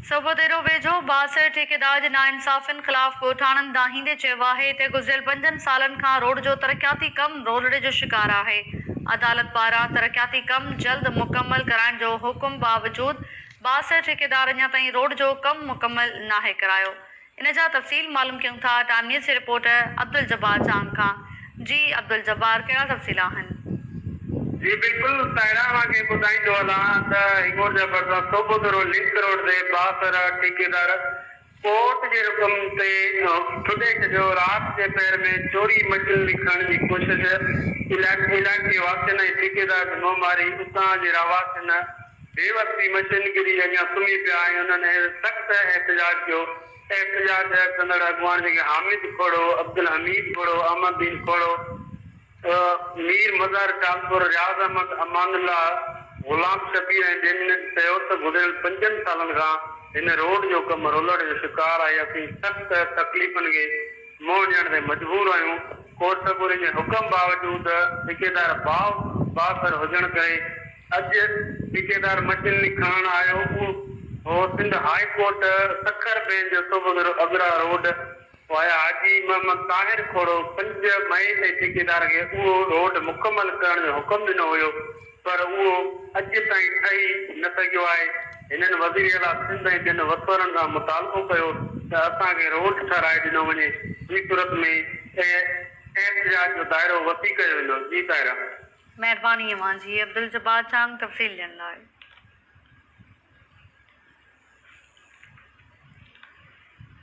صوبو ديرو ويجهو بااثر ٺيڪيدار جي ناانصافين خلاف ڳوٺاڻن دانهيندي چيو آهي ته گذريل پنجن سالن کان روڊ جو ترقياتي ڪم رولڙي جو شڪار آهي، عدالت پاران ترقياتي ڪم جلد مڪمل ڪرائڻ جو حڪم باوجود بااثر ٺيڪيدار اڃا تائين روڊ جو ڪم مڪمل ناهي ڪرايو. ان جا تفصيل معلوم ڪيون ٿا ٽائيم نيوز جي رپورٽر عبدالجبار چانگ کان جي عبدالجبار ڪهڙا تفصيل آهن. جي بلڪل تاهران مان کي ٻڌائيندو هلان ته هينگور جا ڀرسان صوبو ڌرو لنڪ روڊ تي بااثر ٺيڪيدار ڪورٽ جي رڪم تي ٺڏي ڇڏيو رات جي پهر ۾ چوري مشينري کڻڻ جي ڪوشش علائقي واسين ۽ ٺيڪيدار جي منهن ماري اتان جي رهواسين بي وقتي مشين گري اڳيان سمهي پيا ۽ انهن سخت احتجاج ڪيو. احتجاج ڪندڙ اڳواڻ جيڪي حامد کهڙو، عبدالحميد کهڙو، احمددين کهڙو، مير مظهر ٽالپر، رياض احمد، امان الله، غلام شبير ۽ ٻين هن چيو ته گذريل پنجن سالن کان هن روڊ جو ڪم رولڙ جو شڪار آهي اسين سخت تڪليفن کي منهن ڏيڻ تي مجبور آهيون ڪورٽ سڳوري جي حڪم باوجود ٺيڪيدار بااثر هجڻ ڪري اڄ ٺيڪيدار مشينري کڻڻ آيو هو، Sindh high court Sukkur bench جو صبح جو اگرا روڊ وايا حاجي محمد طاهر کوڙو پنج مئي تي ٺيڪيدار کي اهو روڊ مڪمل ڪرڻ جو حڪم ڏنو هيو پر اهو اڄ تائين ٺهي نه سگهيو آهي، هنن وزير اعليٰ سنڌ ۽ ٻين وسورن کان مطالبو ڪيو ته اسان کي روڊ ٺهرائي ڏنو وڃي، ٻي صورت ۾ احتجاج جو دائرو وسيع ڪيو ويندو. جي طاهر. مهرباني اوهان جي عبدالجبار جان تفصيل ڏين لاء.